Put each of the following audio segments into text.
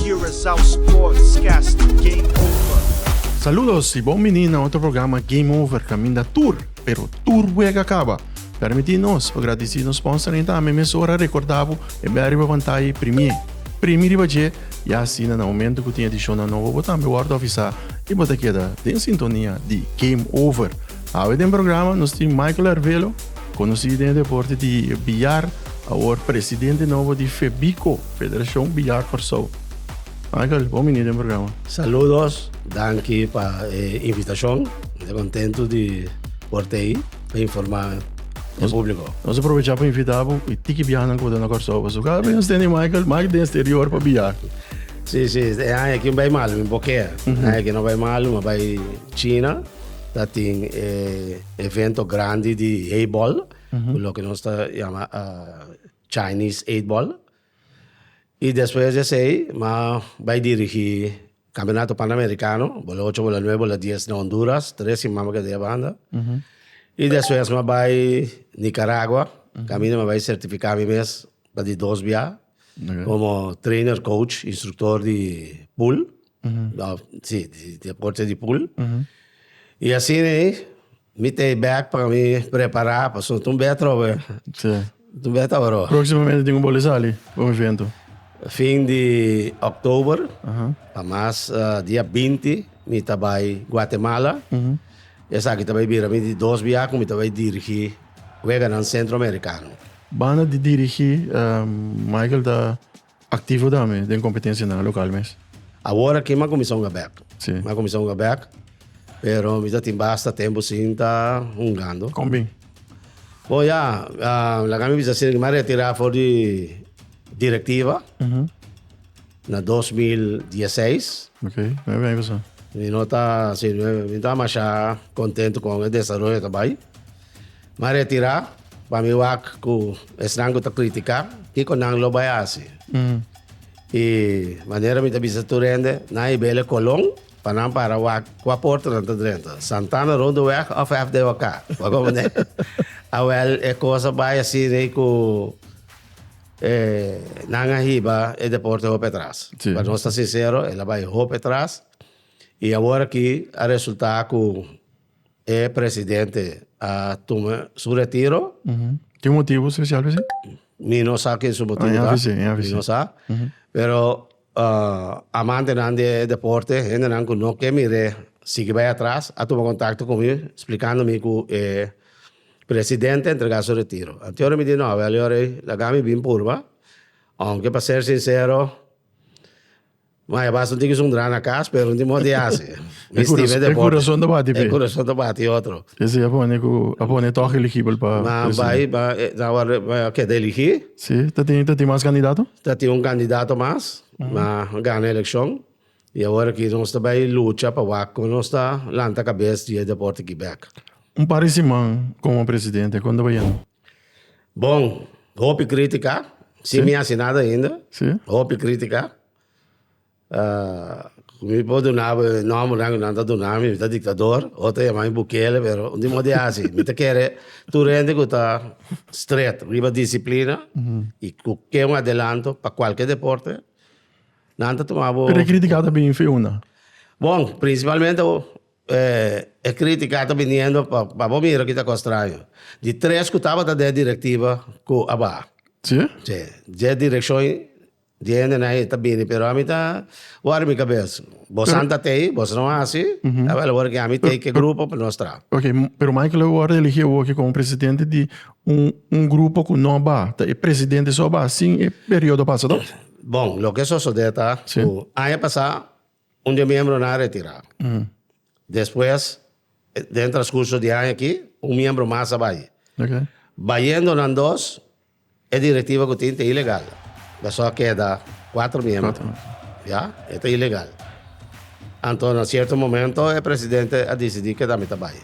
Curaçao Sportscast Game Over. Saludos y bon bini na otro programa Game Over caminda tur, pero tur wega caba. Permiti nos pa gradici nos sponsor y tambe mesora recorda bo e bel riba pantaya y primi e primi riba dje y asina na momento cu tin ediciona nobo bo tambe wordo avisa y bo ta keda den sintonia di Game Over. Awe den programa nos tin Michael Arvelo, conoci den e deporte di billar, awor presidente nobo di Febico. Federashon Biljart Kòrsou. Michael, bon bini den programa. Saludos, danki pa e invitashon. Mi ta kontentu di por ta ei pa informá e públiko. Nos a provechá pa invitá bo e tiki biahanan ku bo ta na Kòrsou pasobra kada bes nos tende e Michael mas den sterior pa bia. Sí, sí, e aña aki no bai malu, mi bo kea. E aña aki no bai malu, mi a bai China, ta tin e evento grandi di heibòl, ku loke nos ta yama. Chinese Eight Ball y despues di esey m'a bay dirigi Campeonato Panamericano bola ocho bola nuebe bola dies na Honduras tres siman m'a keda yabanda y despues m'a bay Nicaragua caminda m'a bay certifica mi mes pa di dos bia como trainer coach instructor di pool. No, si, di, di Corte di Pool. Y así nei, mi ta e bag pa mi prepara, pasobra tin un bey atroba, tin Sí. un bey atroba aroba. Próximamente tin un boli sali pa un evento. Fin di October, pa mas, ah, dia binti, mi ta bai Guatemala. Y esaki ta bai bira mi di dos biaha cu mi ta bai dirigi weganan Centro Americano. Banda di dirigi, ehm, Michael ta Activo tambe den competencianan a local mes. Awor aki m'a cuminsa hunga bek. Si. M'a cuminsa hunga bek, pero mi ta tin basta tempo sin ta hungando. Con bin? Bo ya, laga mi bisa asina, m'a retira for di directiva na dos mil dieseis. Ok, nueve aña pasá. Mi no ta, si, mi no ta masha contento con e desaroyo ta bay. M'a retirá pa mi wak ku esnan ku ta kritika kiko nan lo bai hasi. I manera mi ta bisa tur hende, nan e bele kolon pa nan para wak kua porta nan ta drenta, Santana Rondeweg òf FDOK. Bo a komprendé? Awèl e kosa bai hasi rei ku e nan a hiba e deporte hopi atras. Sí. Pa nos ta sinsero, el a bai hopi atras i awor aki a resultá ku. E presidente a tuma su retiro. Tin un motibu spesial pa esei? Mi no sa kin su motibu ta. Aña avise, aña avise. Mi no sa. Pero amantenan di e deporte, hendenan ku no ke mir'é sigui bai atras, a tuma kontakto ku mi splikando mi ku e presidente a entregá su retiro. Anto yoda mi di, no, awèl yòrei laga mi bin purba, ounke pa ser sinsero, Ma e baso tin ki sun dra na cas pero no tin modo di hasi. Mi stima e deporte. E curason ta bati p'e. E curason ta bati otro. Ese ya pone cu a pone e toch eligibel pa presidente. Ma bai pa e awor a keda eligi. Si, ta tin ta tin mas candidato? Ta tin un candidato mas ma gana eleccion y awor aki nos ta bai lucha pa wak con nos ta lanta cabes di e deporte Quebec. Un par di siman como presidente con ta bai yendo? Bon, hopi kritika, sin mi hasi nada ainda. Sí. Hopi kritika. Ah, ku mi por duna bo e nòmbernan ku nan ta duna mi, mi ta diktador, otro ta yama mi Bukele, pero un di mos di hasi. Mi ta kere tur hende ku ta strèt riba disiplina i ku ke un adelanto pa kualke deporte, nan ta tuma bo. Pero e kritika ta bini feuna. Bon, prinsipalmente E crítica ta biniendo pa pa bo mira kita cos straño. Di tres cu tabata den e directiva cu a baha. Sí? Sí. Dje direccion di hende na e ta bini pero ami ta worry mi cabes. Bosan ta tei, bosan no haci, tabata awor ki ami tei ki e grupo pa nos traha. Ok, pero Michael a worde eligi awoki como presidente di un un grupo cu no a baha. Ta e presidente so a baha sin e periodo pasa, no? Bon, loke sosode ta cu aña pasa Un di e miembronan a retirá. Despues, den e transkurso di e aña akí, un miembro mas a bai. Bayendo nan dos, e direktiva ku tin ta ilegal. Pasobra a keda kuater miembro. Ya. E ta ilegal. Anto na sierto momento e presidente a disidí ku e tambe ta bai.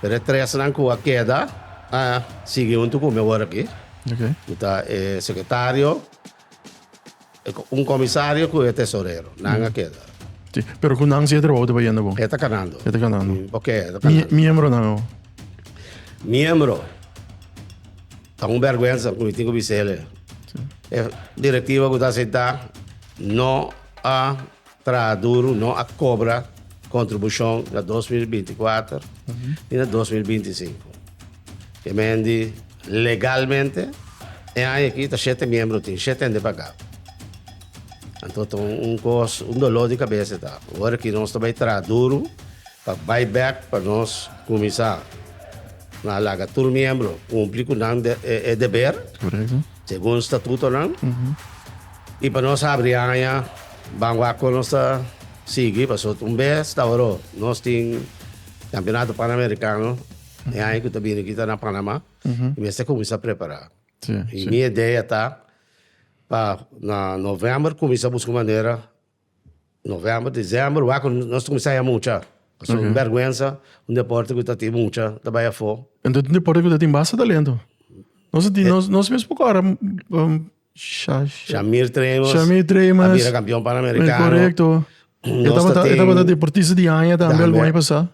Pero e tresnan ku a keda a sigui huntu ku mi awor akí, ku ta e sekretario, Un comisario cu e tesorero, nan a keda. Si, pero cu nan si e trabao ta bayendo bon? E ta canando. E ta canando. Ok, e ta canando. Miembronan awo? Miembro, ta un berguensa cu mi tin cu bisele. E directiva cu ta asenta no a. Trahaduru no a kobra kontribushon na dos mil binti kuater ni na dos mil binti sinku. Kemen di legalmente e aña aki ta shete miembro tin shete hende pagá. Anto ta un kos un doló di kabesa ta ora ki nos ta bai traha duru. Pa bai bek pa nos kuminsá. Nan a laga tur miembro kumpli ku nan e deber segun statutonan i pa nos habri haña ban wak nos ta sigui pasobra un bes ta ora nos tin Campeonato Panamericano e haña ku ta bini aki ta na Panama i mester kuminsá prepará. Mi idea ta pa na november kuminsá buska manera November, december wak cu nos ta cuminsa haya mucha. Pasobra es un bergüensa un deporte cu ta tin mucha ta bay afo. Enton es un deporte cu ta tin basta talento. Nos a tin, nos mes poko ora, um, sha, sha. Shamir Treymas. Shamir Treymas. A bira campeon panamericano. Correcto. E tabata, e tabata deportista di aña tambe algun aña pasa.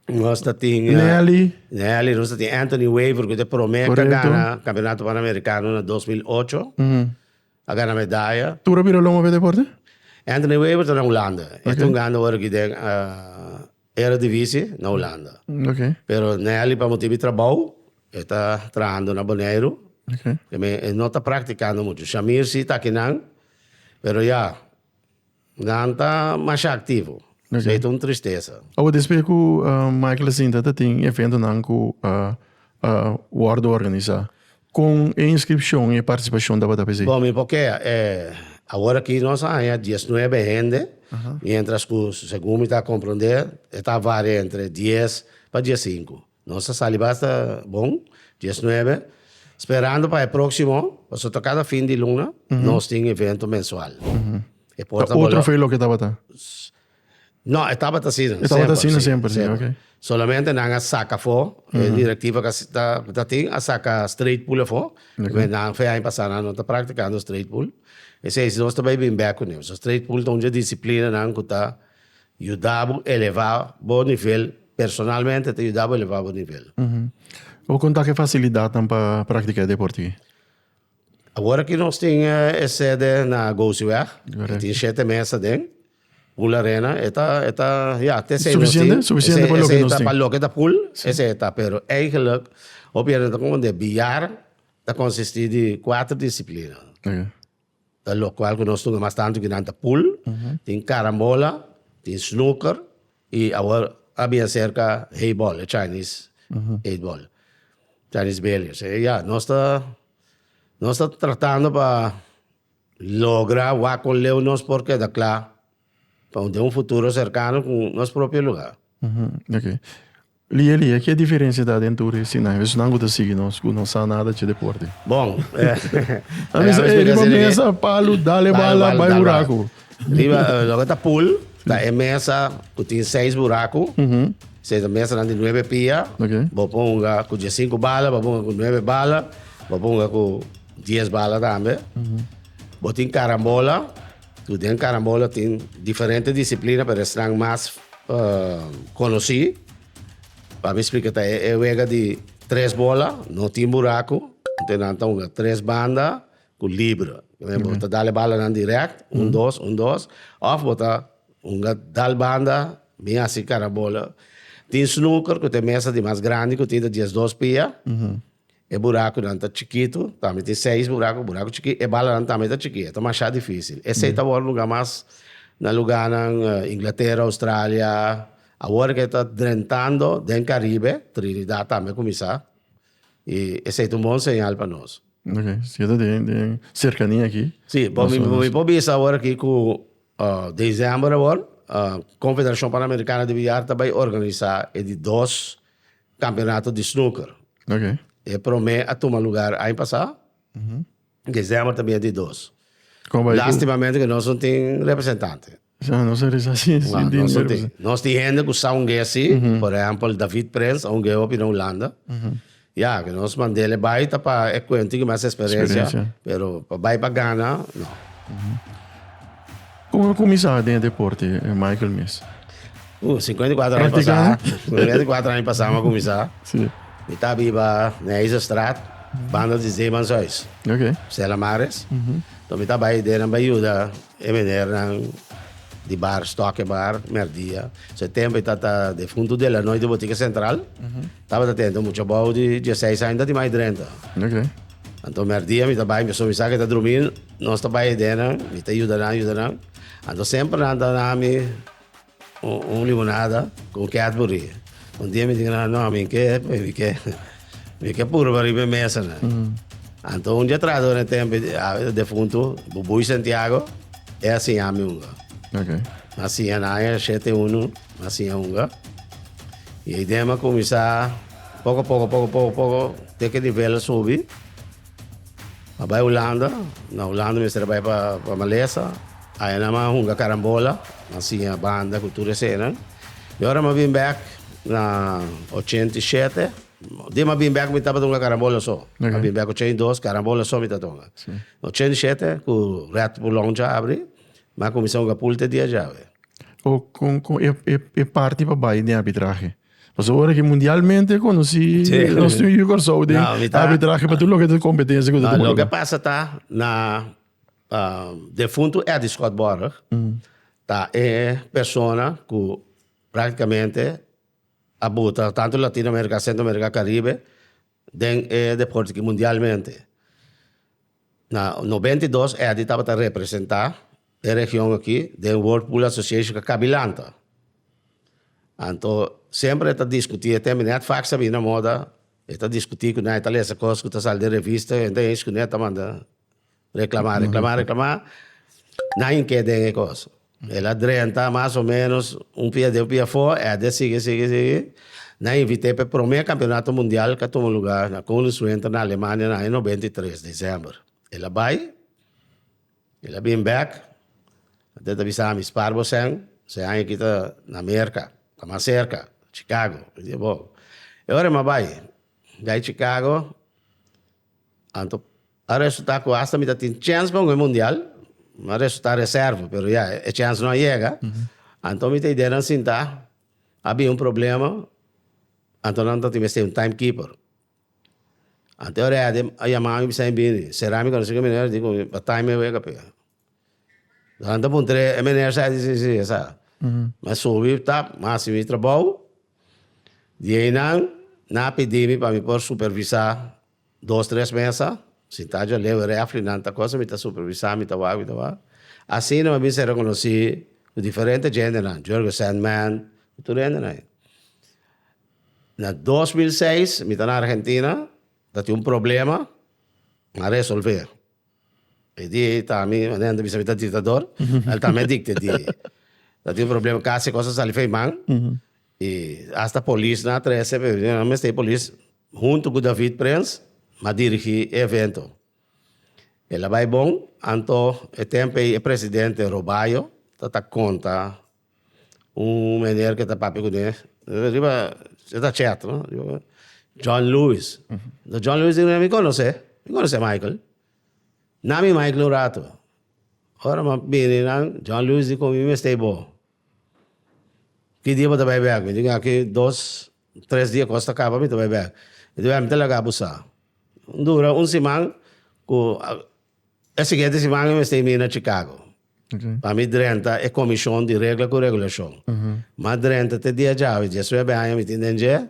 Nos ta tin. Nelly. Nelly, nos ta tin Anthony Wever cu ta e prome ta gana campeonato panamericano na dos mil ocho. A gana medaya. Tur a bira longo p'e deporte? Anthony Weber ta na Hulanda. E ta hungando ora aki den Eredivisie na Hulanda. Pero Nelly pa motibu di trabou e ta trahando na Boneiru. E no ta praktikando muchu. Shamir si ta kinan pero ya. Nan ta masha aktivo, esei ta un tristesa. Awa despe ku Michael a sinta ta tin eventonan ku a wòrdu organisá. Kon e inskripshon i e partisipashon tabata pa esei? Bon, mi por kea, awor aki nos a haña dies nuebe hende, miéntras ku segun mi ta komprondé e ta varia entre dies pa dies sinku. Nos a sali basta bon, dies nuebe, sperando pa e proximo, paso ta cada fin di luna nos tin evento mensual. E por Ta ta otro bolo- fe loke tabata. No, e tabata asina. E tabata asina semper, sí, ok. Solamente nan a saca fo, e directiva ca ta, ta tin a saca straight pool afo. Oké. Nan fe aña pasa nan no ta practicando straight pool. P'esei si nos ta bay bin bek cu niu. So straight pool ta un dje disciplinanan cu ta. Yuda bo elevá bo nivel, personalmente ta yuda bo elevá bo nivel. Bo kon ta ku e fasilidatnan pa praktiká e depòrte aki? Awor aki nos tin e sede na Gouziweg, e tin shete mes aden, Pool Arena, e ta, e ta, ya, ta esei nos tin. Sufisiente, sufisiente pa loke nos tin. Pa loke ta pool, esei ta, pero eigenlik hopi hende ta konsondé biar ta konsistí di kuater disiplina. Ta lokual ku nos tuma mas tantu ku nan ta pool, tin karambola, tin snooker i awor a bin aserka heibòl, e chinese heibòl, chinese billiards. Ya, nos ta nos ta tratando pa logra wak kon leu nos por keda kla. Pa den un futuro serkano ku nos propio lugá. Ok. Lia lia, ke diferensia ta den tur e sinan? Esun nan ku ta sigui nos, ku no sa nada dje deporte. Bon. Nan bisa, ey, riba mesa, palu, dale bala, bai buraku. Riba, loke ta pool, ta e mesa ku tin seis buraku, se ta mesanan di nuebe pia, bo por hunga ku diesinku bala, bo por hunga ku nuebe bala, bo por hunga ku dies bala tambe. Bo tin karambola. Tur den Carambola tin diferente disiplina pero esnan mas conoci pa mi splica ta e wega di tres bola no tin buraco entonces nan ta hunga tres banda cu libre bo ta dale balanan direct un dos un dos of bo ta hunga dal banda mi haci Carambola tin Snooker cu ta e mesa di mas grandi cu tin ta diesdos pia E burakunan ta chikitu, tambe tin seis buraku, buraku chikí. E balanan tambe ta chikí, e ta mashá difísil. Esei ta wòrdu lugá mas na lugánan Inglatera, Australia. Awor ku e ta drentando den Karibe, Trinidat tambe a kuminsá. I esei ta un bon señal pa nos. Oke. Sigiendo den serkania akí. Sí. Bo mi por bisa awor akí ku desèmber awor Konfederashon Panamerikano di Biar ta bai organisá e di dos Campeonato di Snooker. E prome a tuma lugar aña pasa. December ta bini di dos. Lastimamente cu nos no tin representante. Sa nos a resasi e sin tin representante. Nos tin hende cu sa hungu'e si. Por ehempel David Prins a hungu'e hopi na Hulanda. Ya, cu nos mandele bay ta pa e cuento cu mas experiencia. Pero pa bay pa gana, no. Como lo comenzá den deporte, Michael mes? Uh, 54 aña pasá. 54 aña pasá ma comenzá. Sí. Mi ta biba na Eisenstraat, banda di Zeemans huis. Ok. Stella Maris. Mm -hmm. Então mi ta bai dena bai yuda e menernan di bar Stokke Bar, merdia. Se tempo e ta ta defunto Delanoy di Botica Central. Mm -hmm. Tabata tende un mucha bou di diesseis aña, ta di mai drenta. Oké. Anto merdia mi ta bai, mi a sumi sa ke ta drumi, nos ta bai aden nan, mi ta yuda nan, yuda nan. Anto semper nan ta nan mi un, un limonada con Cadbury. Un dia mi diga nan, no, mi ke, mi ke, mi ke purba riba e mesa nan. Anto un diatrado den e tempo, e defuntu, Bubuy Santiago, e a siña mi unda. Oké. Mi a siña nan, e a shete unu. Ma sin a hunga. I e idea a kuminsá poko poko, poko poko, poko, te ku e nivel a subi. A bai Hulanda, na Hulanda mester a bai pa Malesa. Ayanan a hunga karambola, a siña banda ku tur esenan. I ora mi a bin bèk na ochenta i shete, di mi a bin bèk mi tabata hunga karambola so. Mi a bin bèk ochenta i dos, karambola so mi tabata hunga. Ochenta i shete ku Rèt Puloncha abri, M'a cuminsa hunga pul te dia djawe. O con con e e e parti pa bai den arbitrahe? Paso ora ki mundialmente e conoci nos tin yu Corsou den arbitrahe pa tur loke ta competencia cu ta tucu lugar. Loke pasa ta na defuntu Eddie Scott Borg ta e persona cu practicamente a buta tanto Latino America, Centro America, Caribe Den e deporte ki mundialmente na nobenta i dos Eddie tabata representá e region akí den World Pool Association ku a kabi lanta. Anto semper e ta diskutí, e tenbe nèt fak sa bini na moda, e ta diskutí ku nan, e ta lesa kos ku ta sali den revista, hende esku nan e ta manda. Reclama, reclama, reclama. Nadie ke den e cos. El a drenta mas o menos un pia den, un pia fo. Eder sigui, sigui, sigui. Na invite pe prome campeonato mundial ke a tuma lugar na Koningswinter na Alemania na aña noventa i tres, december. El a bay, el a bin bek. Eder ta bisa ami, spaar bo sèn. Sèn aña aki ta na Merka, ta mas cerca, Chicago. Mi di bo, e ora mi a bay, mi a bay Chicago. Anto a resulta cu hasta mi ta tin chens pa un goe mundial, a resulta reserva, pero ya e chens no a yega, anto mi ta idea nan sinta, a bin un problema, anto nan ta tin mester un time keeper. Anto e ready a yama mi bisa mi bini, sera mi conoci cu mi, a di cu mi, but time a wega pe. Nan ta puntra e meneer sa, e di si, si, e sa. Mi a subi ta, mi a hasi mi trabou. Di ei nan, nan a pidi mi pa mi por supervisá dos, tres mesa. Sintá djor leu e refri, nan ta kos, mi ta supervisá, mi ta wak, mi ta wak. Asina mi a binse rekonosí ku diferente djentenan, Giorgio Sandman, ku tur e hendenan ei. Na dos mil seis, mi ta na Argentina, mi ta tin un problema, mi a resolvé. E di ei ta mi, manera nan ta bisa mi ta diktador, el ta me dikta e di ei. Ta tin un problema kas e kos a sali fei man, i asta polisnan a trese, pero nan no mester e polis huntu ku David Prins a dirigí e evento. El a bai bon, anto e tempo ei e presidente Robayo ta ta konta un meneer ke ta papia ku den, riba e ta chet no, John Lewis, do John Lewis di, mi konos'é, mi konos'é Michael, nan mi Michael un rato, ora m'ap bini nan, John Lewis di kon mi mester i bo, ki dia bo ta bai bek? Mi di kon aki dos, tres dia kos ta kaba mi ta bai bek, mi di mi ta laga bo sa, dura un siman ku e siguiente siman mi mester i mina Chicago. Pa mi drenta e komishon di regla ku regulashon. Mas drenta te dia djawe, diesnuebe aña mi tin den dje.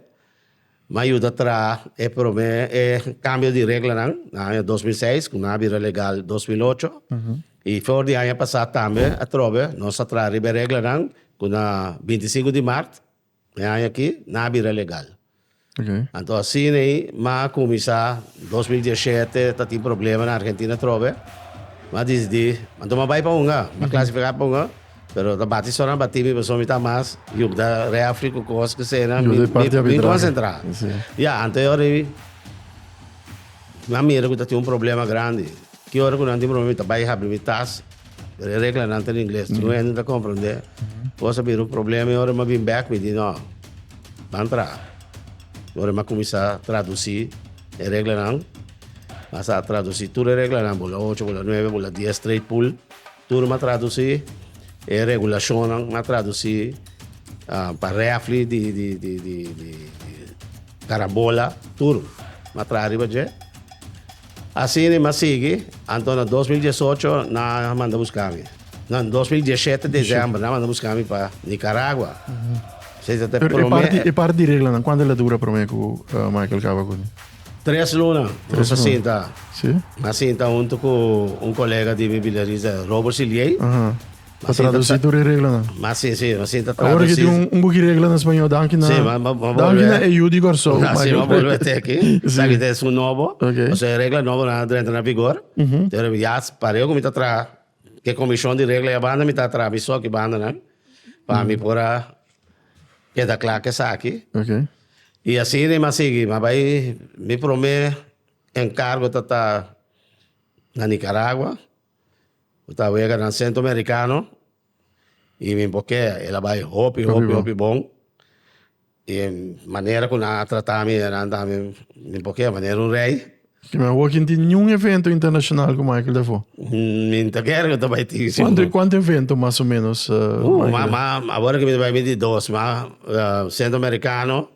Mi a yuda traha e promé e kambio di reglanan na aña dos mil seis, ku nan a bira legal dos mil ocho. I for di aña pasá tambe atrobe nos a traha riba e reglanan ku na binti i sinku di mart. Mi aña aki nan a bira legal. Anto asina ei m'a kuminsá. Dos mil dieshete ta tin problema na Argentina trobe. M'a disidí, anto m'a bai pa hunga, m'a klasifiká pa hunga, pero ta bati sòn a batí mi pasobra mi ta mas yupda rèfri ku kos asina. Mi konsentrá. Ya, anto e ora ei nan mira ku ta tin un problema grandi. Ki ora ku nan tin problema mi ta bai habri mi tas. E reglanan ta na ingles, tin un hende no ta komprendé. Kos a bira un problema, i ora mi a bin bèk mi di, No, ban traha. Ora mi a kuminsá tradusí e reglanan, mi a sa tradusí tur e reglanan, bo la ocho, bo la nuebe, bo la dies, trei pul, tur mi a tradusí. E regulashonnan mi a tradusí pa rèfli di, di, di, di, di karambola, tur mi a traha riba dje. Asina e mas sigui, anto na dos mil diesocho nan a manda buska mi. Na dos mil diesete desèmber nan a manda buska mi pa Nikaragua. Sey ta ta e Pero e promé parti, e e. parti di reglanan, kuantu el a dura promé ku Michael kaba ku mi? Tres luna nos Tres a luna. sinta. Sí. Nan a sinta huntu ku un kolega di mi bilerista Robert Silie. Aha. Ta traduci tur e reglanan. Mas sencillo, mas sin ta traduci. Awor ki tin un, un buki regla na Spañol, danki na... Sí, ma, ma, ma danki na EU di Kòrsou. Na, sí, ma bolbe te aki. sí. Taki te su nobo. Ok. O sea, regla nobo na drenta na vigor. Mm -hmm. Pero ya, pareo ku mi ta tra, ke komishon di regla ya banda, mi ta tra mi so ki banda nan, pa mm -hmm. mi por a keda kla ke saki. Ok. I asi ni ma sigi, ma bai, mi promé enkargo ta ta na Nikaragua. Bo ta wega na Centro Americano y mi bo kea. El a bay hopi, hopi, hopi bon. Y e manera cu nan a trata mi e nan tambe mi bo kea manera un rey. Ki me awor ki no tin niun evento internacional cu Michael ta for. Mi no ta ker cu ta bay tin. Cuanto, cuanto evento mas o menos Michael. Awor aki mi ta bay mi di dos, ma Centro Americano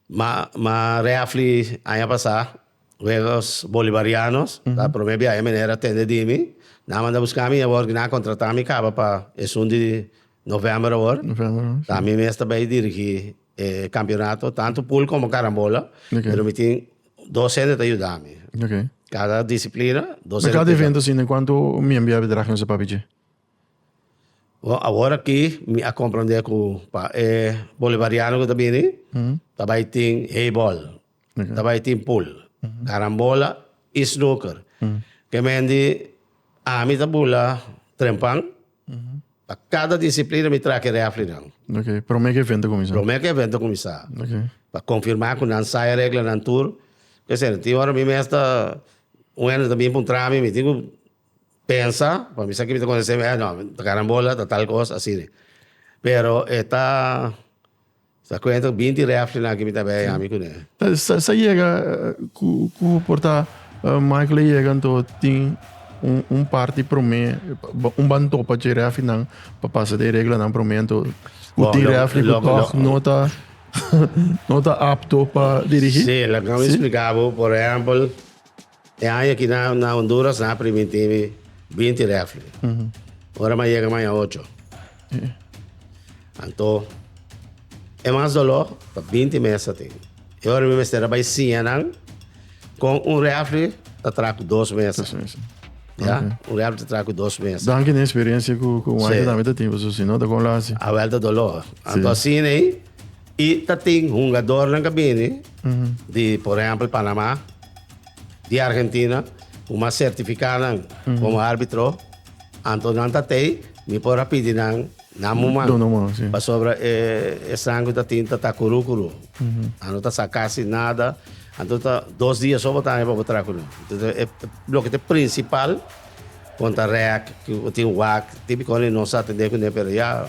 Ma reafli aña pasá, Huegos Bolivarianos, ta promé biaha e meneer a tende di mi. Nan a manda buscá mi awor, nan a contratá mi caba pa esun di november awor. Ta mi mes ta bay dirigí e campeonato, tanto pool como carambola, pero mi tin dos hende ta yuda mi. Cada disciplina, dos hende ta yuda mi. Na cada evento asina, cuantu miembro ya a haber dragen su papia dje? Bo awor aki mi a komprende ku pa e bolivariano ku ta bini ta bai tin heibòl, ta bai tin pul, karambola i snooker. Ke mendi ami ta bula trempan, pa kada disiplina mi traha ki rèflinan. Okay, promé ku e evento kuminsá. Promé ku e evento kuminsá. Okay. Pa konfirmá ku nan sai e reglanan tur. P'esei tin ora mi mes ta un hende ta bin puntra mi, mi tin ku Pensa, pa mi sa ki mi ta konsehá semi, eh no, ta karambola, ta tal kos, asina. Pero e ta, sa kuenta ku binti rèfrinan ki mi ta bai ami kuné. Sa yega, ku por ta Michael a yega anto tin un parti promé, un ban topa dje rèfrinan pa pasa dje e reglanan promé anto ku tin rèfri ku tòg no ta no ta apto pa dirigí? Sí, laga mi spliká bo, por ehèmpel. E aña aki na Honduras nan a primintí mi binti rèfli. Ora mi a yega maña ocho. Anto e mas doló ta binti mes atin. E ora mi mester a bai siña nan kon un rèfli ta traha ku dos mes. Dos mes. Ya, un rèfli ta traha ku dos mes. Danki na e speriensia ku waifi tambe ta tin, pasobra sino ta kon lo hasi. A wèlta doló. Anto asin'ei. Y ta tin hungadornan cu a bini di, por ehempel, Panama, di Argentina, cu mas certifica nan como arbitro. Anto nan ta tey, mi por a pidi nan, nan mu man. Duna man, si. Pasobra e esnan cu ta tin ta ta curu curu. A no ta sa casi nada. Anto ta dos dia so bo ta haña pa bo traha cu nan. Entonces, e loke ta e principal contra rek, cu tin wak, tin bicona e no sa atende cu ne, pero ya.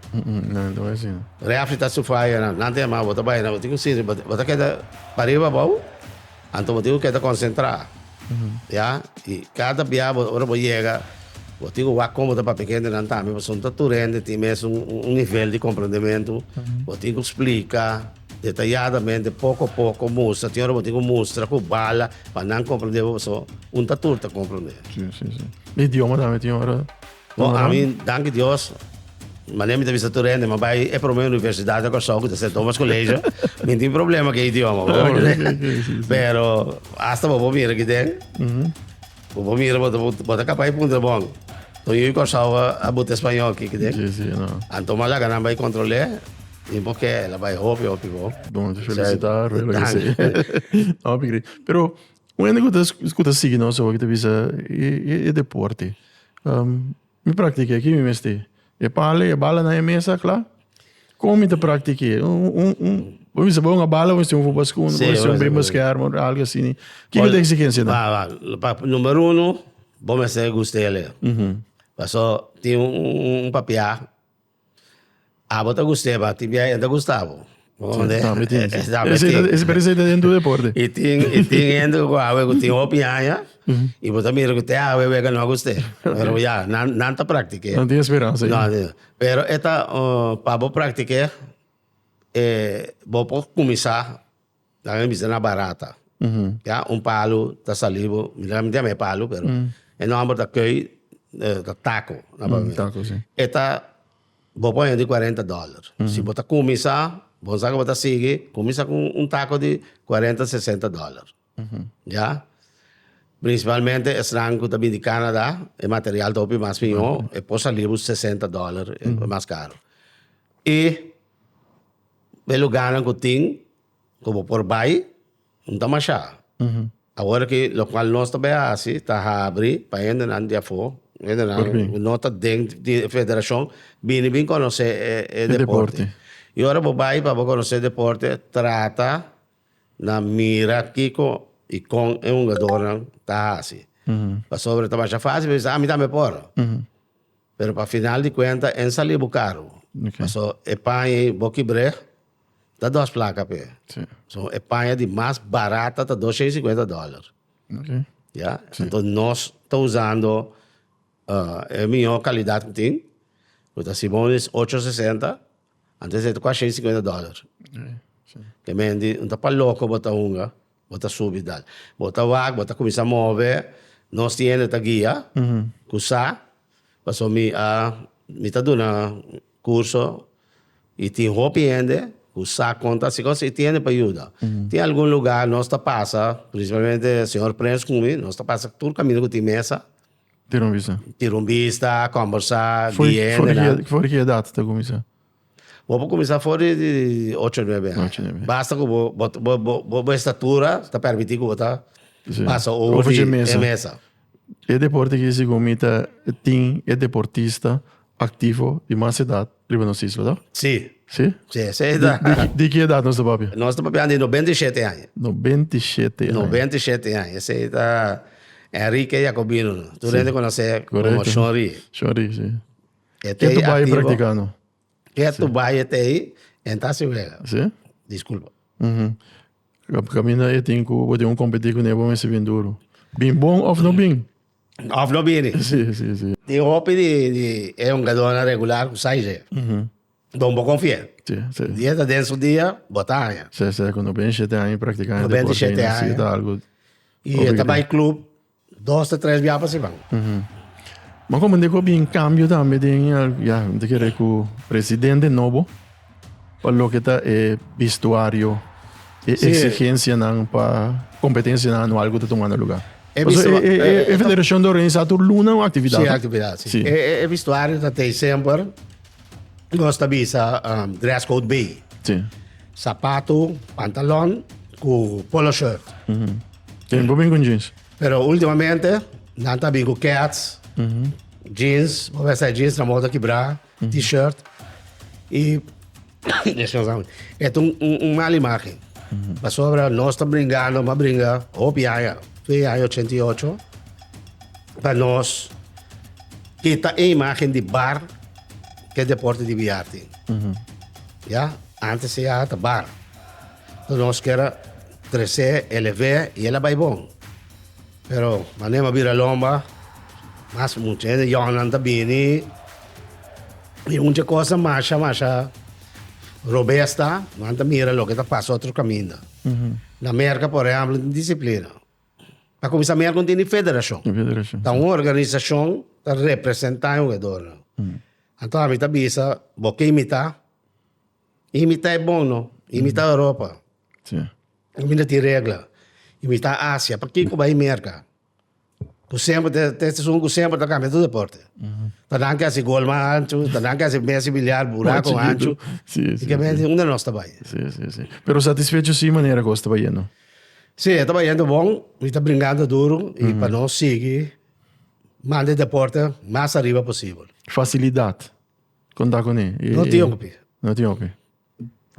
Refri ta su faya nan. Nan ta yama bo ta bai nan. Bo tin ku sirbi. Bo ta keda pariba abou. Anto bo tin ku keda konsentrá. Ya. I kada bia bo ora bo yega bo tin ku wak kon bo ta papia ku hende nan tambe pasobra no ta tur hende tin mes un nivel di komprendementu. Bo tin ku splika detayadamente poko a poko mustra. Tin ora bo tin ku mustra ku bala pa nan komprende bo pasobra un ta tur ta komprende. Idioma tambe tin ora. Bo a mi danki Dios manera mi ta bisa tur hende mi a bai e prome universidad na Kòrsou ku ta Sen Tomas Koleisho mi tin problema ku e idioma pero hasta bobo mira kiten bobo mira bo ta kapa e punto di bon tur yu Kòrsou a buta e spañol ki kiten anto mas laga nan bai kontrole i bo ke la bai hopi hopi bo. Bon te felisita Rui lo ke se hopi gri pero Un hende ku ta ku ta sigui nos awo ta bisa e e deporte mi praktik'é ki mi mester e e pala e bala na e mesa a kla? Kon mi ta praktik'é un un bo bisa bo un a bala bo mester un fupa skun bo mester un bimba skèr bo algu asini ki ta eksigensia nan? Ba ba numero uno bo mester gusta e alea paso tin un un papiá. Abo ta gusteba, tin biaha e ta gusta bo. Sí, tambe tin, sí. Ese parece ta den tur deporte. I tin i tin hende ku awe ku tin hopi aña i bo ta mira ku te awe wega no a gusta e. Pero ya, nan nan ta praktik'é. Nan tin speransa ain. Pero e ta pa bo praktik'é, bo por kuminsá. Nan a bisa na barata. Ya, un palu ta sali bo, minderalmente a mi e palu, pero e nòmber ta kòi, ta tako na papiamentu. Tako, si. E ta, bo por hende di kuarenta dòler. Si bo ta kuminsá, bo sa ke bo ta sigui, kuminsá ku un tako di kuarenta, sesenta dòler. Ya. Prinsipalmente esnan ku ta bini di kanada, e material ta hopi mas piñó, e por sali bo sesenta dòler, e mas karu. I E lugarnan ku tin ku bo por bai no ta mashá. Awor aki lokual nos ta bai hasi ta habri pa hendenan di afó, hendenan ku no ta den di e federashon bini bin konosé e deporte. I ora bo bai pa bo konosé e deporte trata na mira kiko i kon e hungadornan ta hasi. Pasobra ta masha fásil pa bo bisa, a mi tambe por. Pero pa final di cuenta en sali bo carro. Paso e paña y bokibreg ta dos placa p'e. So e paña di mas barata ta dos shei cincuenta dollar. Ya enton nos ta usando e mijo calidad cu tin cu ta Simon is ocho sesenta antes e ta cua shei cincuenta dollar. Te menti no ta pa loco bota hunga. Bo ta subi dal. Bo ta wak, bo ta kuminsá move. Nos tin hende ta guia. Ku sa. Pasobra mi a, mi ta duna kurso i tin hopi hende ku sa kon ta hasi kos i tin hende pa yuda. Tin algun lugá nos ta pasa, prinsipalmente señor Prens ku mi, nos ta pasa tur kaminda ku tin mesa. Tira un bista. Tira un bista, kòmbersá, guia hendenan. For di ki edat ta kuminsá? Bo por kuminsá for di ocho o nuebe aña. Basta ku bo estatura ta permití ku bo ta pasa over di e mesa. E deporte ki segun mi ta tin e deportista aktivo di mas edat riba nos isla to? Si. Si? Si, si. Di ki edat nos ta papia? Nos ta papia di nobenta i shete aña. Nobenta i shete aña. Nobenta i shete aña. Esei ta Enrique Jacobino. Tur hende konos'é komo Shonri. Shonri, si. E te bai activo. practicando. Ke tu bai e te en ta si wega. Sí. Disculpa. Ujú. Ka- Camina e tin ku bo tin un competi ku ne bo mester bin duro. Bin bon of no bin? Of no bini. Sí, sí, sí. Tin hopi di, di e hongadornan regular ku sai dje. Don bo konfié. Sí, sí. Di e ta den su dia, bo ta haña. Sesa ku no bini shete aña practicando No bini deporte shete aña. necesita algo. I e ta bai club. Dos ta tres biaha pa si ban. Bo komprende ku a bin kambio tambe den e, ya, mi ta kere ku presidente nobo pa loke ta e bistuario, e eksigensianan pa kompetensianan anual ku ta tumando lugar. Paso e federashon ta organisá tur luna un aktividat. Si, aktividat, si. E bistuario ta tei semper. nos ta bisa um, dress code bay. Sí. Sapato, pantalon, cu polo shirt. Tem bo bingo jeans. Pero ultimamente, nan ta bingo cats, jeans, bo vesta jeans na moda quebra, t-shirt. Y, descansamos. Es un, un, un mala imagen. Pasobra, nos ta bringando, ma bringa, hopi aña, 2 aña 88. Pa nos, ke ta e imagen di bar ke deporte di biar tin. Ya, antes se ya ta bar. Entonces nos kier a trece, eleve y el a bai bon. Pero mane bo a bira lomba, mas mucha hende yònnan ta bini y hunchi cosa masha masha robesta, nan ta mira loke ta pasa otro kaminda. Na Merka, por ehempel, tin disciplina. Ta cuminsa mira con tin di federacion. Di federacion. Ta un organizacion ta representa e jugadornan. Mm. Anto ami ta bisa, bo ke imita, imita e bon no, imita mm. Europa. Sí. Ami no tin regla. Imita Asia, pa kiko bai Merca? Cu sempre, te, te seizoen cu sempre ta cambia tu deporte. Mm. Ta dan kasi gol ma ancho, ta dan kasi Messi biliar bura con ancho. Sí, sí. Porque sí. un de nos ta bai. Sí, sí, sí. Pero satisfecho sí manera que os ta bai, no? Sí, e ta bayendo bon, mi ta bringando duru y pa nos sigui manda e deporte mas ariba posibel. Facilidad con ta con e? No tin hopi. No tin hopi.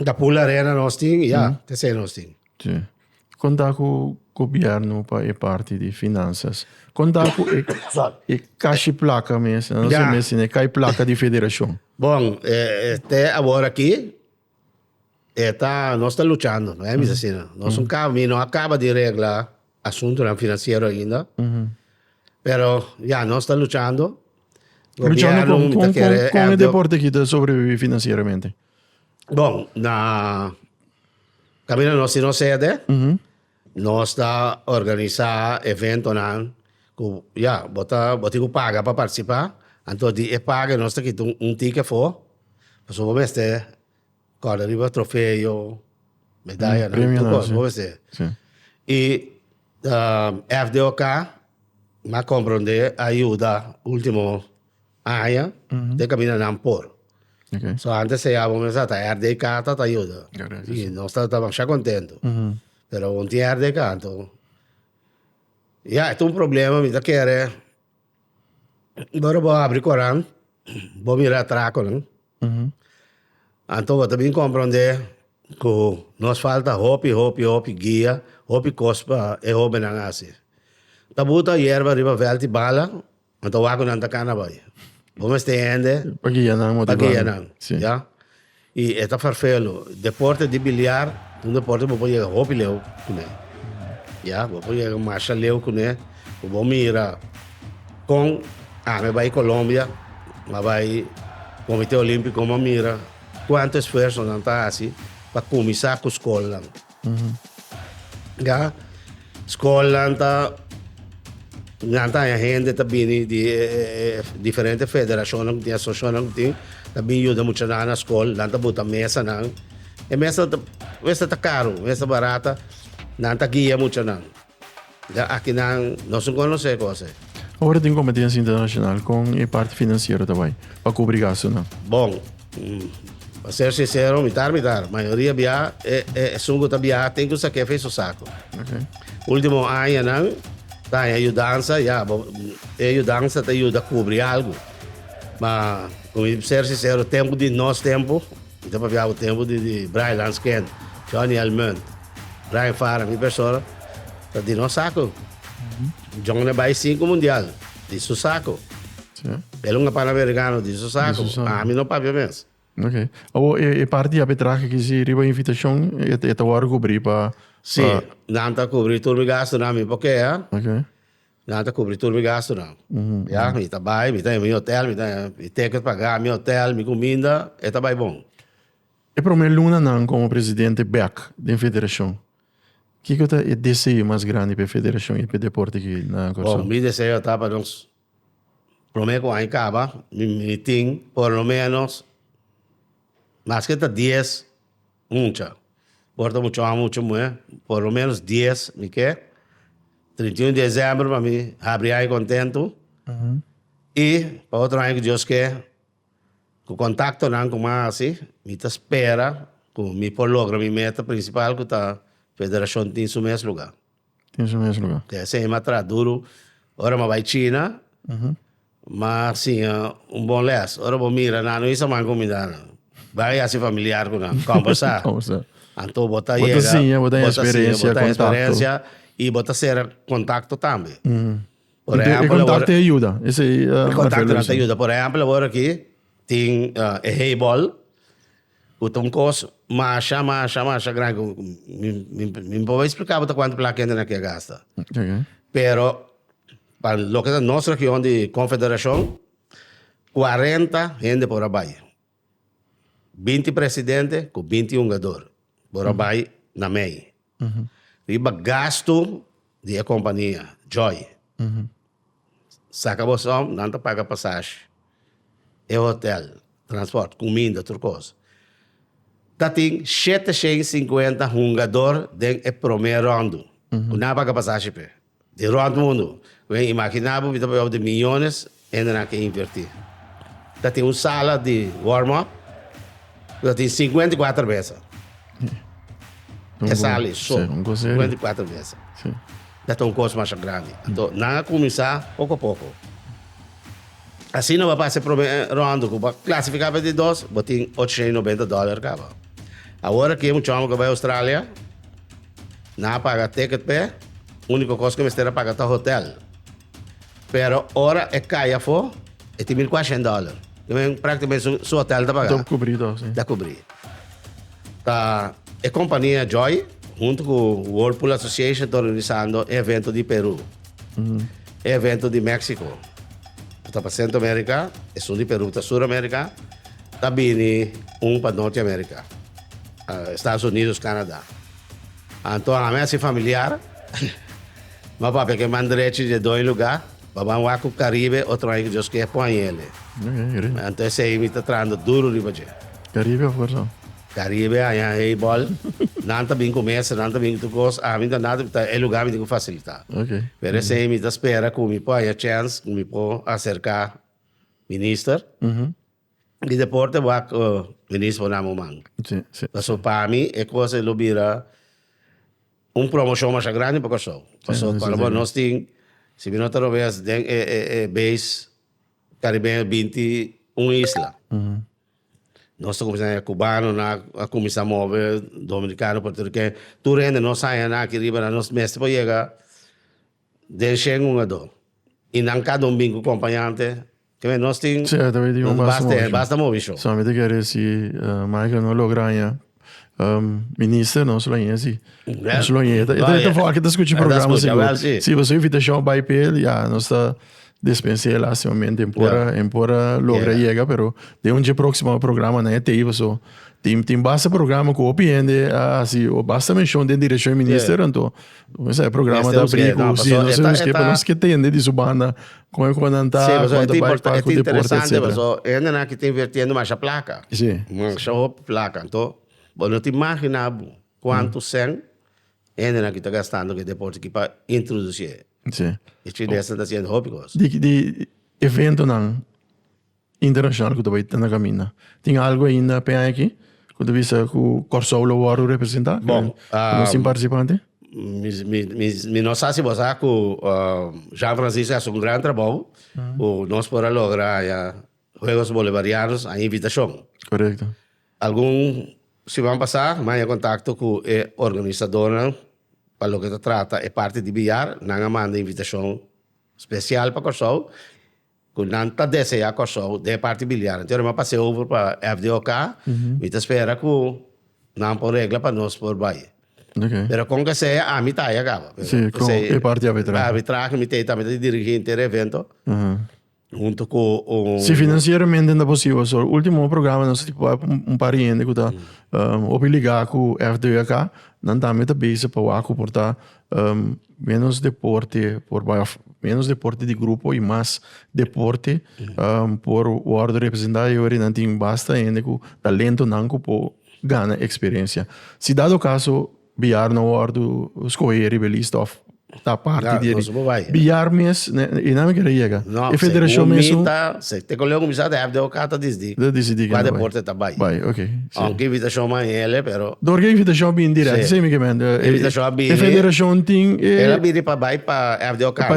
Ta pool arena nos tin y ya, ta esey nos tin. Sí. Con ta cu gobierno pa e parti di finanzas? Con ta cu e, e cashi placa mes, no se mes, e kai placa di federacion? Bon, eh, te awor aki, E ta, nos ta luchando, no hay misa asina. Nos un cabo, mi no acaba di regla asuntonan financiero ainda, pero ya, nos ta luchando. Luchando Gobierno con, mi ta con, con, kere con e help de- deporte aki ta sobrevivi financieramente. Bon, na caminda nos si nos sede, Nos ta organisá eventonan ku ya bo ta bo tin ku paga pa partisipá, anto di e paga nos ta kita un un tiki afó, pasobra bo mester kòrda riba trofeo, medayanan, tur Premionan, kos si. bo mester. Si. I FDOK a komprondé, a yuda último Aña den kabina nan por. So antes e yama mes a ta RDK ta ta yuda. Y nos ta damasha contento. Pero aún tin RDK anto. Ya e ta un problema mi ta kere ora bo abri coran bo mira atraconan. Anto bo ta bin compronde cu nos falta hopi hopi hopi guia, hopi cos pa e hobennan a haci. Taboe ta yerba riba veld y bala. Nan ta waku nan ta kana bai. Bo mester hende pa guia nan, pa guia nan. Sí. Ya. Y e ta farfelu. Deporte di biliar, un deporte bo por yega hopi leu cune. Ya. Bo por yega masha leu cune. Cu bo mira con ami bai Colombia, m'a bai Comite Olimpico, m'a mira cuanto esfuerzo nan ta haci pa cuminsa cu scolnan. Ya skolnan ta nan ta haña hende ta bini di e e e diferente federashonnan ku tin asosiashonnan ku tin ta bin yuda muchanan na skol nan ta buta mesanan e mesanan ta mester ta karu mester barata nan ta guia muchanan Dja akinan nos un conoce cos e. Ora tin competencia internacional con e parti financiero ta bay pa cubri gastonan? Bon, pa ser sincero mitar mitar, mayoria bia e esun cu ta bia tin cu sa kefi su saco. Ultimo añanan ta haña yudansa, ya bo e yudansa ta yuda cubri algo, ma cu mi ser sincero tempo di nos tempo. Mi ta papia bo tempu di di Brian Lans Kent, Johnny Almunt, Brian Farah, mi persona ta di nos saku. Johnny a bai sinku mundial di su saku. Sí. El un Panamericano di su saku. Di su saku. Ami no papia mes. Ok. Awor e e parti arbitrahe kizi riba invitashon e e ta wòrdu kubrí pa pa. Sí. Nan ta kubrí tur mi gastunan mi por kea. Ok. Nan ta kubri tur mi gastunan. Ya, mi ta bai, mi ta himi hotel, mi ta himi ticket paga, mi hotel, mi kuminda, e ta bai bon. E promé lunanan komo presidente bèk den federashon, kiko ku ta e deseo mas grandi pa e federashon i pa e deporte aki na Kòrsou? Bon, mi deseo ta pa nos promé ku aña kaba mi tin por lo ménos maske ta dies. Mucha. Por ta mucha homber mucha muher. Por lo menos dies mi ke. Trinta i un di december pa mi habri aña contento. Y pa otro aña cu Dios ke cu contactonan cu mas hasi mi ta spera cu mi por logra mi meta principal cu ta federacion tin su mes lugar. Tin su mes lugar. Te hesei matras duru ora ma bai China, ma siña un bon les. Ora bo mira nan, no hisa man cuminda nan. Bai a yasi familiar cu nan, combersa. Combersa. Anto bo ta yega. Bo ta siña, bo ta haya experiencia, contacto. Bo ta haya experiencia y bo ta cera contacto tambe. Por ejemplo. E contacto ta yuda. E contactonan ta yuda. Por ejemplo, awor aki tin e heibol. Cu ta un cos masha, masha, masha grandi cu mi, mi, mi por explicabo ta cuanto placa hende na kier gasta. Pero pa loke ta nos region di Confederacion, cuarenta hende por a bay. Binti presidente cu binti hungador por a bay na mey. riba gastu di e kompania Joy. Saka bo som, nan ta paga pasashi, e hotel, transport, kuminda, tur kos. Ta tin shete shen i sinkuenta hungador den e promé rondu ku nan a paga pasashi p'e. Di rond mundu. Wen imaginá bo mi ta bayaw di miyones hende nan a ke invertí. Ta tin un sala di warm up ku ta tin sinkuenta i kuater mesa. E sala ei so, sinkuenta i kuater mesa. Ya ta un kos masha grandi. Anto nan a kuminsá poko a poko. Asina bo a pasa e promé rond ku bo a klasifiká pa e di dos, bo tin ochenta i nobenta dòler kaba. Awor aki e muchóngen ku a bai Australia. Nan a paga ticket p'e, úniko kos ku e mester a paga ta hotèl. Pero ora e kai afó, e tin mil kuashent dòler. Yo meen, práktikamente su su hotèl ta pagá. Ta kubrí tòg, sí. Ta kubrí. Ta e kompania Joy huntu ku Whirlpool Association ta organisando e evento di Perú, e evento di Méksiko, ku ta pa Sentro Amerika, esun di Perú ku ta Sur Amerika, ta bini un pa Norte Amerika, Estados Unidos, Canadá. Anto ami a si familiar. Bo papia ke man drechi dje doi lugá. Bo man wak ku Karibe otro aña ke Dios kier pon aña el e. Anto esei mi ta trahando duro riba dje. Karibe of Kòrsou? Karibe aña ei bòl. Nan ta bin ku mesa, nan ta bin ku tur kos. Ami no ta nada mi ta e lugá mi tin ku fasilitá. Pero esei mi ta spera ku mi por aña chèns ku mi por aserká minister. Di deporte bo a minis bo na muman. Sí, sí. Paso pa mi e cosa e lo bira un promoción masha grandi pa Kòrsou. Paso cuando bo nos tin, si mi no ta robes den e e e base caribeño binti un isla. Nos ta cuminsa haña cubanonan, a cuminsa move dominicano, puertoriqueño, tur hende nos haña nan aki riba nan, nos mester por yega den shen un a dos. Y nan cada un bin cu compañante. Teme nos tin Cia, teme tin un nos basta basta movi, movi. basta movi show. Sami te kere si eh, Michael no logra haña um, minister, nos lo haña si. Wel, Nos lo haña. E ta- e ta- e ta fo'a ke ta skucha e ta programa skucha, sigur. wel, si. Si boso invitashon bai pa el, ya, nos ta despens'é lastimamente. En por a, Ya. en por a logra Yega. yega, pero den un dje próksimo programa nan e tei boso. Tin, tin basta programa ku hopi hende a hasi, o basta menshon den direkshon di minister, anto Mester e programa ta abrí ku si no ser husquero pero nos ke tende di su banda kon e kua nan ta kua ta bai pas ku deporte etcetera. Sí, pasobra e ta importante paso e hendenan ki ta invirtiendo masha plaka. Sí. Masha hopi plaka. Anto bo no ta imagina bo kuantu cen e hendenan ki ta gastando ku e deporte ki pa introducié. Sí. E chines nan ta haciendo hopi cos. Di eventonan. internashonal ku ta bai na kaminda. Tin algu ainda p'e aña aki ku ta bisa ku Kòrsou lo wòrdu representá ku nos tin partisipante? Mi no sa si bo sa ku Jean Francisco a hasi un gran trabou ku nos por a logra haña Huegos Bolivarianos a invitashon. Korekto. Algun siman pasá mi a haña kontakto ku e organisadónan pa loke ta trata e parti di biar. Nan a manda invitashon spesial pa Kòrsou Cu nan ta desea Corsou den e parti biliar anterior mi a pase over pa FDOK mi ta spera cu nan por regla pa nos por bay. Pero con que sea ami ta aya caba. Si, con e parti arbitrahe. Arbitrahe mi ta ey tambe ta di dirigente e evento hunto cu un. Si financieramente ta posible so ultimo programa nos a bay un par di hende cu ta hopi liga cu FDOK nan tambe ta bezig pa wak cu por ta. Menos deporte por bai of menos deporte di grupo y mas deporte por wordo representa y ora nan tin basta hende cu talento nan cu por gana experiencia. Si dado caso billar no wordo scoge riba e lista of ta parti di billar mes y nan me keda yega. E federacion mes. Sey, te Coleon bisa ta hèp de oca ta disdi cua deporte ta bai. Aunke invitacion manhele, pero. Dor cu e invitacion a bini direct, sey mi ke mende. E invitacion a bini. E federacion tin e. El a bini pa bai pa hèp de oca, pa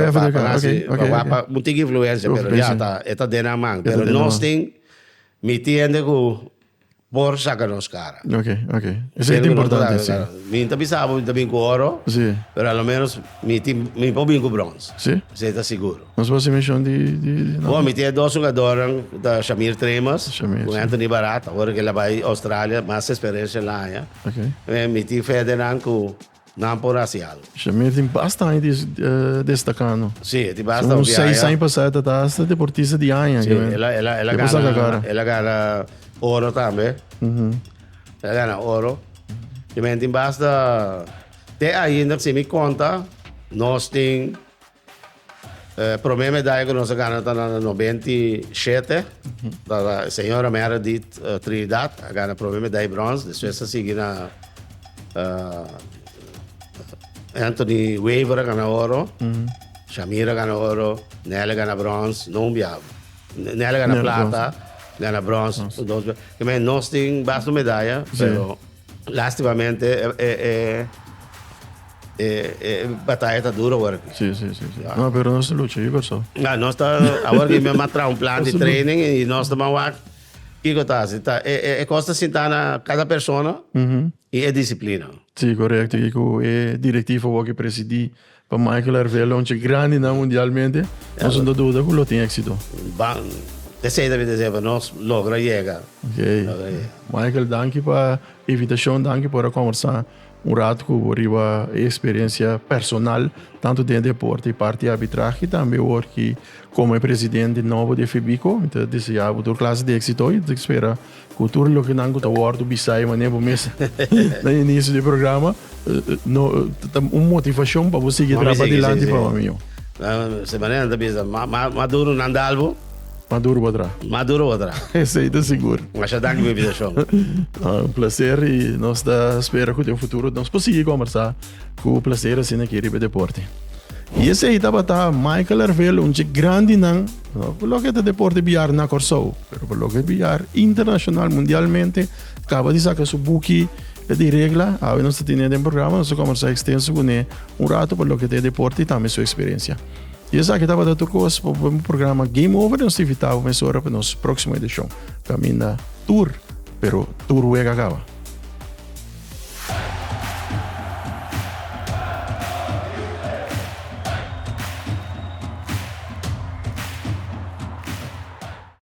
hasi, pa wak pa un tin influencia, pero ya ta, e ta den nan man. Pero nos tin, mi tin hende cu Por saca nos cara. Ok, ok. Esey ta importante, si. Mi ta bisa bo mi ta bin cu oro. Si. Pero a lo menos mi tin, mi por bin cu bronce. Si. Esey ta seguro. Nos por haci mencion di, di, di nomber. Bo, mi tin e dos hungadornan cu ta Shamir Tremers. Shamir, si. Cu Anthony Barat. Awor cu el a bay Australia, mas experiencia el a haya. Ok. Mi tin Federnan cu Nan por hasi algo. Shemir tin basta aña di destaka no. Sí, e tin basta hopi aña. Segun seis aña pasa e ta ta asta deportista di aña. Sí, el a el a el a gana el a gana oro tambe. El a gana oro. Shemir tin basta te ainda si mi konta nos tin. E prome medaya ku nos a gana ta na nobenta i shete. Ta e señora Meredith Trinidad a gana prome medaya i brons. Despues a sigui na Anthony Wever a gana oro, Shamir a gana oro, Nelly a gana brons, no un biaha. Nelly a gana plata, gana brons su dos biaha. Ki mei nos tin basta medaya pero lastimamente e. E bataya ta duro awor aki. Sí, sí, sí, sí. No, pero nos ta lucha, kiko so? Ah, nos ta, awor aki mi a tra un plan di training y nos ta wak, kiko ta hasi? Ta, e, e, e kos ta sinta na cada persona y e disciplina. Sí, correcto. Y cu e directiva awor aki presidi pa Michael Arvelo, un chi grandi nan mundialmente, nos no ta duda cu lo tin exito. Ban, eseyda mi ta sey, pero nos logra yega. Oké. Michael, danki pa e invitacion, danki por a conversa. Un rato cu bo riba e experiencia personal tanto den e deporte y parti arbitrahe y tambe awor ki como e presidente nobo di Fibico. Mi ta desea bo tur clase di exito y ta spera cu tur loke nan cu ta wordo bisa e manera bo mes na inicio di e programa no ta un motivacion pa bo sigi traba dilanti pa bo amigo. Semana nan ta bisa mas duro nan dal bo. Maduro bo tra. Maduro bo tra. Esei ta sigur. Masha danki pa invitashon. Un plaser i nos ta spera ku den futuro nos por sigui kombersá ku plaser asina aki riba deporte. I esei tabata Michael Arvelo, un dje grandinan, no pa loke ta deporte biar na Kòrsou, pero pa loke biar internashonal, mundialmente, kaba di saka su buki di regla, awe nos ta tene den programa, nos a kombersá ekstenso kuné un ratu pa loke ta e deporte i tambe su eksperensia. Y esaki tabata tur cos pa bo programa Game Over y nos ta invita bo mesora pa nos proximo edicion. Caminda tur, pero tur wega caba.